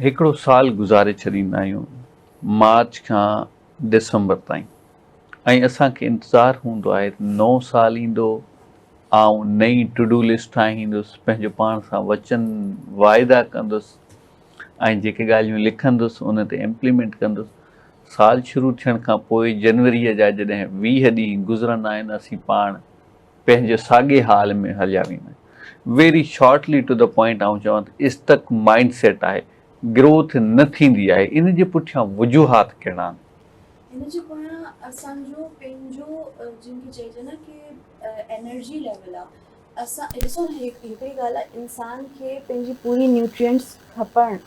هڪڙو سال گذاري ڇڏيندا آهيون مارچ کان ڊسمبر تائين ۽ اسان کي انتظار هوندو آهي ته نئون سال ايندو آئون نئين ٽو ڊو لسٽ ٺاهيندس پنهنجو پاڻ سان وچن واعدا ڪندس ۽ جيڪي ڳالهيون لکندس ان تي امپليمينٽ ڪندس سال شروع ٿيڻ کان پوء جنوريء جا جڏهن ويهه ڏينهن گذرندا آهن اسين پاڻ پنهنجي ساڳي حال ۾ هليا ويندا آهن. Very shortly to the point آئون چوان ته اسٽڪ مائنڊ سيٽ آهي، گروٿ نه ٿيندي آهي، ان جي پٺيان وجوهات ڪهڙا آهن؟ ان جي پويان اسان جو پنهنجو جنهن کي چئجي نه ڪي انرجي ليول آهي اسان ڏسو نه هڪڙي ڳالهه آهي انسان کي پنهنجي پوري نيوٽرينٽس کپڻ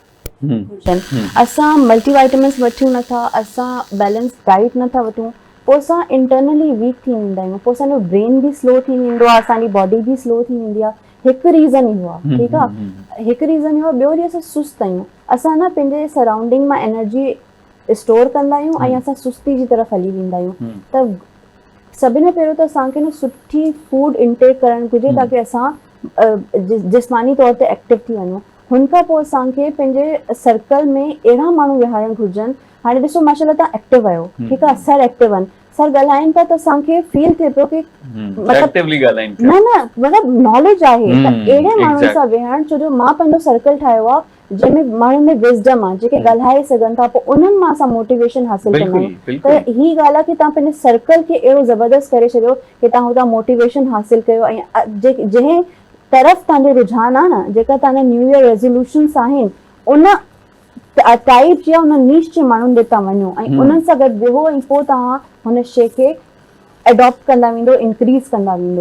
اسان ملٽي وائٽامنس وٺيون نه ٿا اسان بيلنس ڊائيٽ نه ٿا وٺون پوء اسان انٽرنلي ويڪ ٿي ويندا آهيون پوء اسان جو برين به سلو ٿي ويندو آهي اسان جي باڊي به سلو ٿي ويندي آهي هڪ ريزن اهو آهي ٺيڪ آهي هڪ ريزن اهو آهي ٻيو وري اسان سست آهيون اسان نه پنهنجي سرائونڊنگ مان انرجي اسٽور ڪندا آهيون ۽ اسان سستي جي طرف هلي ويندا آهيون ته سڀني پهريون ته اسان کي نه سٺي فوڊ انٽيڪ ڪرڻ گهرجي تاڪي اسان جسماني طور تي ايڪٽو ٿي وڃون هن کان پوء اسان کي پنهنجي سرڪل ۾ اهڙا ماڻهو ويهارڻ گهرجن هاڻي ڏسو ماشاءالله تهان ايڪٽو آهيو ٺيڪ آهي سر ايڪٽو آهن سر ڳالهائين ٿا ته اسان کي فيل ٿئي پيو ڪي مطلب نه نه مطلب ناليج آهي ته اهڙي ماڻهن سان ويهڻ ڇو جو مان پنهنجو سرڪل ٺاهيو آهي جنهن ۾ ماڻهن ۾ وزڊم آهي جيڪي ڳالهائي سگهن ٿا پوء انهن مان اسان موٽيويشن حاصل ڪندا آهيون ته هي ڳالهه آهي ڪي تهان پنهنجي سرڪل کي اهڙو زبردست ڪري ڇڏيو ڪي تهان هتان موٽيويشن حاصل ڪيو ۽ جنهن طرف تهنجو رجحان آ نه جيڪا تهنجا نيو يئر ريزوليوشنس آهن ان ٽائيپ جي ان نيش جي ماڻهن ڏي تهان وڃو ۽ انهن سان گڏ ويهو ۽ پوء تهان هن شي کي ايڊاپٽ ڪندا ويندو انڪريز ڪندا ويندو.